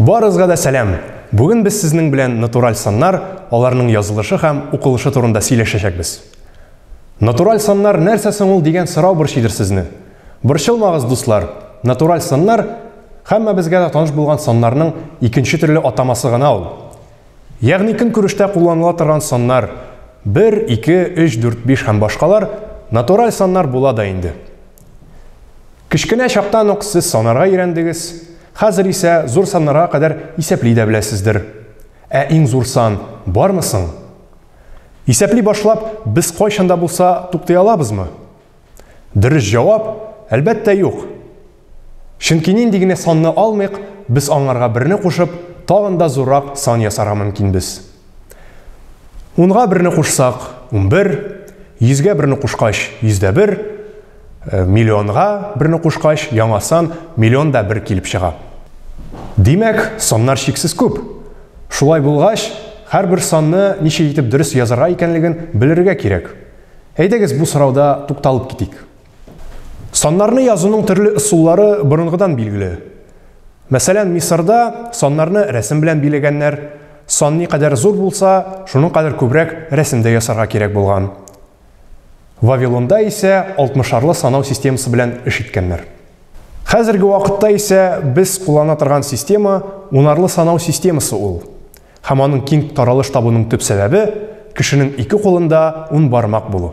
Барыгызга да сәлам! Бүген без сезнең белән натураль саннар, аларның язылышы һәм укылышы турында сөйләшәчәкбез. Натураль саннар нәрсә соң ул дигән сорау борчыйдыр сезне. Борчылмагыз, дуслар, натураль саннар, һәммәбезгә дә таныш булган саннарның икенче төрле атамасы гына ул. Ягъни көнкүрештә кулланыла торган саннар, бер, ике, өч, дүрт, биш һәм башкалар, натураль саннар була да инде. Кечкенә чактан ук сез санарга өйрәндегез, хәзер исә зур саннарга кадәр исәпли дә беләсездер. Ә иң зур сан бармы соң? Исәпли башлап, без кайчан да булса туктый алабызмы? Дөрес җавап, әлбәттә, юк. Чөнки нинди генә санны алмыйк, без аңарга берне кушып, тагын да зуррак сан ясарга мөмкинбез. Унга берне кушсак, унбер, йөзгә берне кушкач, йөздә бер, э, миллионга берне кушкач, яңа сан миллион да бер килеп чыга. Димәк, саннар чиксез күп. Шулай булгач, һәрбер санны ничек итеп дөрес язарга икәнлеген белергә кирәк. Әйдәгез бу сорауда тукталып китик. Саннарны язуның төрле ысуллары борынгыдан билгеле. Мәсәлән, Мисырда саннарны рәсем белән билегәннәр. Сан никадәр зур булса, шуның кадәр күбрәк рәсем дә ясарга кирәк булган. Вавилонда исә алтмышарлы санау системасы белән эш иткәннәр. Хәзерге вакытта исә без куллана торган система унарлы санау системасы ул. Һәм аның киң таралыш табуның төп сәбәбе, кешенең ике кулында ун бармак булу.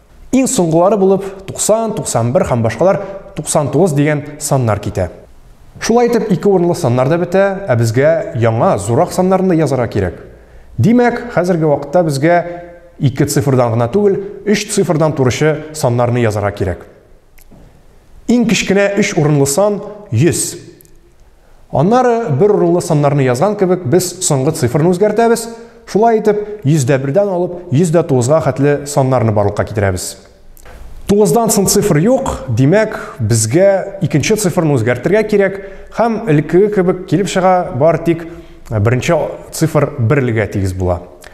Иң соңгылары булып 90, 91 һәм башкалар 99 дигән саннар китә. Шулай итеп, ике урынлы саннар да бетә, ә безгә яңа, зуррак саннарны да язарга кирәк. Димәк, хәзерге вакытта безгә ике цифрдан гына түгел, өч цифрдан торучы саннарны язарга кирәк. Иң кечкенә өч урынлы сан 100. Аннары, бер урынлы саннарны язган кебек, без соңгы цифрны үзгәртәбез, шулай итеп, 101-дән алып 109-га хәтле саннарны барлыкка китерәбез. 9-дан соң цифр юк, димәк, безгә икенче цифрны үзгәртергә кирәк, һәм элеккеге кебек килеп чыга, бар тик беренче цифр берлегә тигез була.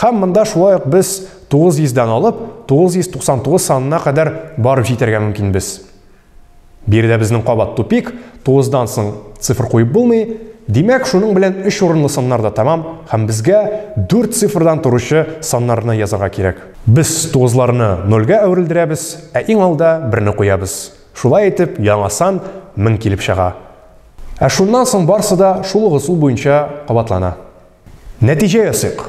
Хәм монда шулай ук без 900 дән алып 999 санына кадәр барып җитәргә мөмкин без. Биредә безнең кабат тупик, 9 дан соң цифр куеп булмый. Димәк, шуның белән 3 урынлы саннар да тәмам, һәм безгә 4 цифрдан торучы саннарны язарга кирәк. Без 9 ларны 0 га әверелдерәбез, ә иң алда 1 не куябыз. Шулай итеп, яңа сан 1000 килеп чыга. Ә шуннан соң барсы да шул ук ысул буенча кабатлана. Нәтиҗә ясыйк.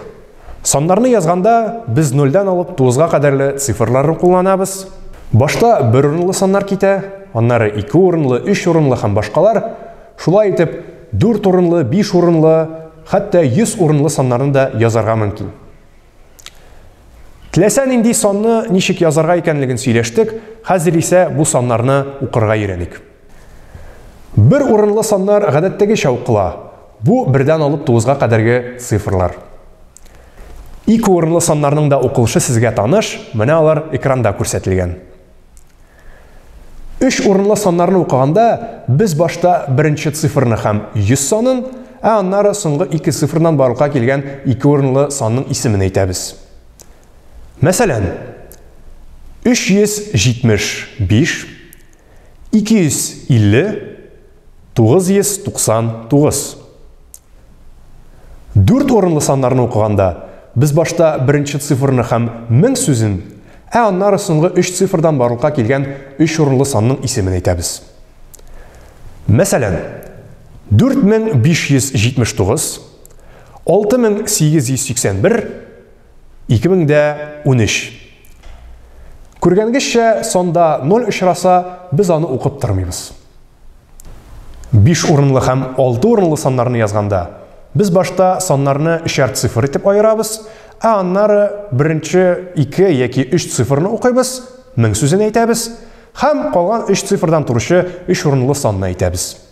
Саннарны язганда, без нольдән алып тугызга кадәрле цифрларны кулланабыз. Башта бер урынлы саннар китә, аннары ике урынлы, өч урынлы һәм башкалар. Шулай итеп, дүрт урынлы, биш урынлы, хәтта йөз урынлы саннарны да язарга мөмкин. Теләсә нинди санны ничек язарга икәнлеген сөйләштек, хәзер исә бу саннарны укырга өйрәник. Бер урынлы саннар гадәттәгечә укыла. Бу, бердән алып тугызга кадәрге цифрлар. Ике урынлы саннарның да укылышы сезгә таныш, менә алар экранда күрсәтелгән. Өч урынлы саннарны укыганда, без башта беренче цифрны һәм 100 санын, ә аннары соңгы ике цифрдан барлыкка килгән ике урынлы санның исемен әйтәбез. Мәсәлән, 375. 250 999 Дүрт урынлы саннарны укыганда, без башта беренче цифрны һәм мең сүзен, ә аннары соңгы өч цифрдан барлыкка килгән өч урынлы санның исемен әйтәбез. Мәсәлән, 4579, 6881, 2013. Күргәнгезчә, санда 0 очраса, без аны укып тормыйбыз. Биш урынлы һәм алты урынлы саннарны язганда, без башта саннарны өчәр цифр итеп аерабыз, ә аннары беренче ике яки өч цифрны укыйбыз, мең сүзен әйтәбез, һәм калган өч цифрдан торучы өч урынлы санны әйтәбез.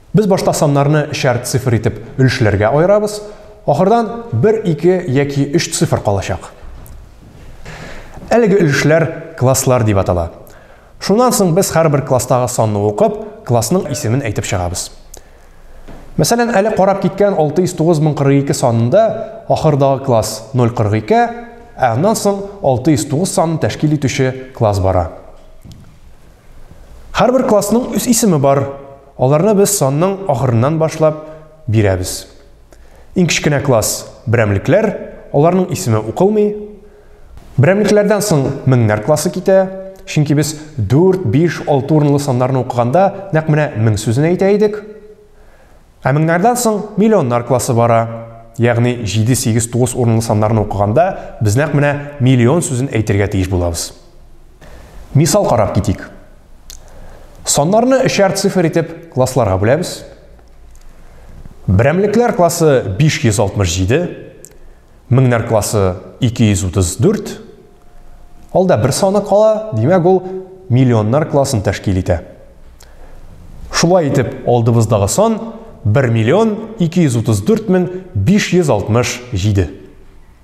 Без башта саннарны чар цифр итеп өлешләргә аерабыз, ахырдан бер, ике яки өч цифр калачак. Әлеге өлешләр класслар дип атала. Шуннан соң без һәрбер класстагы санны укып, классның исемен әйтеп чыгабыз. Мәсәлән, әле карап киткән 609042 санында ахырдагы класс 042, ә аннан соң 609 санын тәшкил итүче класс бара. Һәрбер классның үз исеме бар, Аларны без санның ахырыннан башлап бирәбез. Иң кечкенә класс, берәмлекләр, аларның исеме укылмый. Берәмлекләрдән соң меңнәр классы китә, чөнки без 4, 5, 6 урынлы саннарны укыганда нәкъ менә мең сүзен әйтә идек. Ә меңнәрдән соң миллионнар классы бара. Ягъни 7, 8, 9 урынлы саннарны укыганда без нәкъ менә миллион сүзен әйтергә тиеш булабыз. Мисал карап китик. Саннарны өчәр цифр итеп классларга бүләбез. Берәмлекләр классы 567, меңнәр классы 234. Алда бер саны кала, димәк ул миллионнар классын тәшкил итә. Шулай итеп, алдыбыздагы сан 1 миллион 234 мең 567.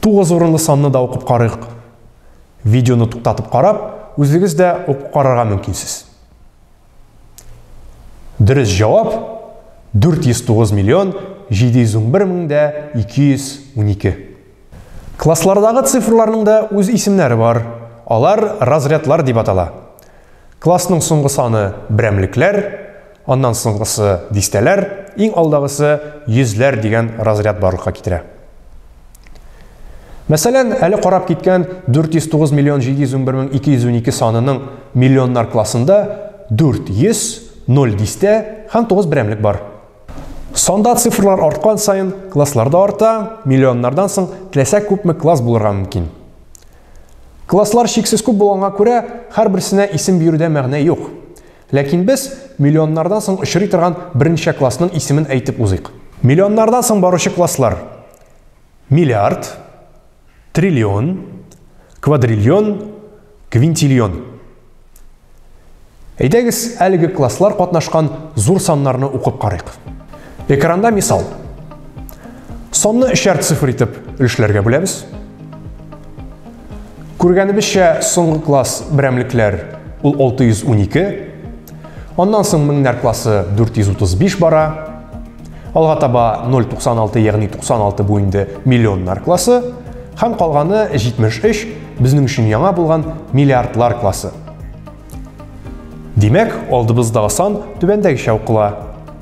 Тугыз урынлы санны да укып карыйк. Видеоны туктатып карап, үзегез дә укып карарга мөмкинсез. Дөрес җавап 409 миллион 711 мең дә 212. Класслардагы цифрларның да үз исемнәре бар. Алар разрядлар дип атала. Классның соңгы саны берәмлекләр, Аннан соңгысы дистәләр, иң алдагысы йөзләр дигән разряд барлыкка китерә. Мәсәлән, әле карап киткән 409 миллион 711 мең 212 санының миллионнар классында 400, 0 дистә һәм 9 берәмлек бар. Санда цифрлар арткан саен класслар да арта, миллионнардан соң теләсә күпме класс булырга мөмкин. Класслар чиксез күп булганга күрә, һәрберсенә исем бирүдә мәгънә юк. Ләкин без миллионнардан соң очрый торган берничә классның исемен әйтеп узыйк. Миллионнардан соң баручы класслар, миллиард, триллион, квадриллион, квинтиллион. Әйдәгез, әлеге класслар катнашкан зур саннарны укып карыйк. Экранда мисал. Санны өчәр цифр итеп өлешләргә бүләбез. Күргәнебезчә, соңгы класс берәмлекләр ул 612, аннан соң меңнәр классы 435 бара, алга таба 096, ягъни 96 бу инде миллионнар классы, һәм калганы 73, безнең өчен яңа булган миллиардлар классы. Димәк, алдыбыздагы сан түбәндәгечә укыла.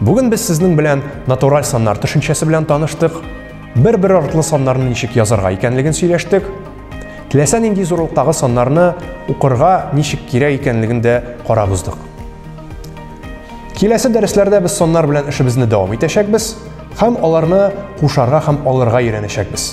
Бүген без сезнең белән натураль саннар төшенчәсе белән таныштык, бер-бер артлы саннарны ничек язарга икәнлеген сөйләштек, теләсә нинди зурлыктагы саннарны укырга ничек кирәк икәнлеген дә карап уздык. Киләсе дәресләрдә без саннар белән эшебезне дәвам итәчәкбез һәм аларны кушарга һәм алырга өйрәнәчәкбез.